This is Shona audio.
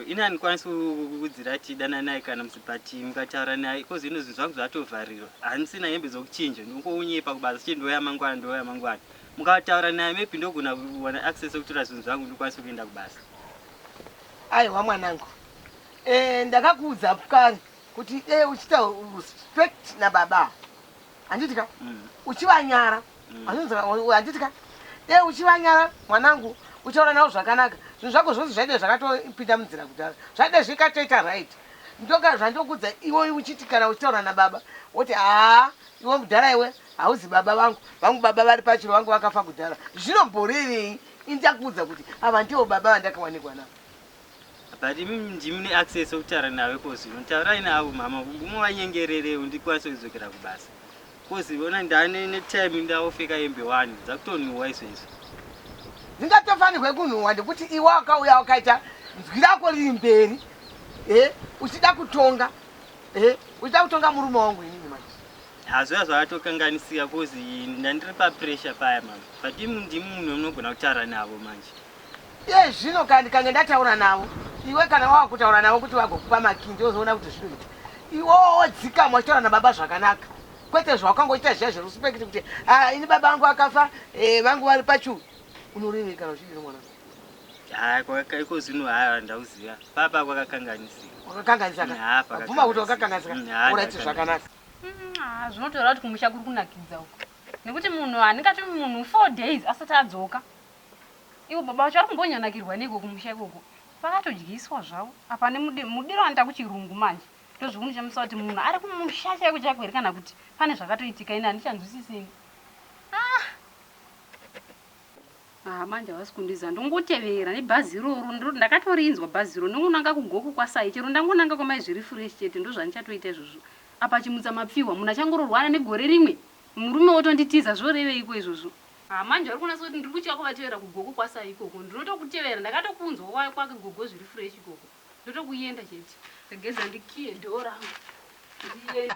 ini handikwanisi kukuudzira ti dana naye kana musi but mukataura naye bcoz ino zvinhu zvangu zvatovharirwa handisina hembe zokuchinja ndingounyepa kubasa chete ndouya mangwana ndouya mangwana mukataura naye maybe ndogona kuwana access okutora zvinhu zvangu ndikwanise kuenda kubasa aiwa mwanangu e, ndakakuudza kare kuti dei uchita respect nababa handiti ka mm. uchivanyara Anonzi handiti ka dai uchivanyara mwanangu uchaona navo zvakanaka zvinhu zvako zvose zvaida zvakatopinda munzira kudhara zvaida zvikatoita right ndoka zvandokudza iwe uchiti kana uchitaura nababa woti haa iwe mudhara iwe hauzi baba vangu vangu baba vari pachiro vangu vakafa kudhara zvinomborevei ini ndakuudza kuti ava ndivo baba vandakawanikwa navo But imi ndimi mune access yekutaura navo coz zvino taurai navo mhama movanyengererewo ndikwanise kudzokera kubasa coz vona ndane netime ndavofeka hembe one dzakutonhuwa izvezvi dzingatofanirwe kunhuwa ndekuti iwe wakauya wakaita nzwi rako riri mberi e uchida kutonga e uchida kutonga murume wangu inini manje hazviya zvakatokanganisika coz ndandiri papressure paya mama but imi ndimi munhu munogona kutaura navo manje Iye zvino kana ndikange ndataura navo iwe kana wava kutaura navo kuti vagokupa makii ndiozoona kuti zvinoita iwowo wodzikama wachitaura nababa zvakanaka kwete zvawakanga uchiita zviya zveruspekiti kuti ah, ini baba vangu vakafa eh, vangu vari pachuu unorevei kana uchidiro mwana iko zvino haa ndauziva papa kwakakanganisika kwakakanganisakabvuma kuti wakakanganisika uraiti zvakanaka mm, zvinotaura kuti kumusha kuri kunakidza uko nekuti munhu handingati munhu four days asati adzoka Ivo baba vacho vari kumbonyanakirwa neiko kumusha ikoko vakatodyiswa zvavo apa nemudiro anoita kuchirungu manje ndozvikundichemesa kuti munhu ari kumusha chaiko chaiko here kana kuti pane zvakatoitika ini handichanzwisisini ah ah manje havasi kundiziva ndongotevera nebhazi iroro ndiro ndakatorinzwa bhazi iro ndongonanga kugoku kwasai chero ndangonanga kwamai zviri fresh chete ndozvandichatoita izvozvo apa chimutsa mapfihwa munhu achangororwana negore rimwe murume wotonditiza zvoreveiko izvozvo Haa manje vari kunatsa kuti ndiri kutya kuvatevera kugogo kwaSaa ikoko. Ndinotokutevera ndakatokunzwa wauya kwake gogo zviri fresh ikoko. Ndotokuenda chete. Ndageza ndikiye door rangu ndiende.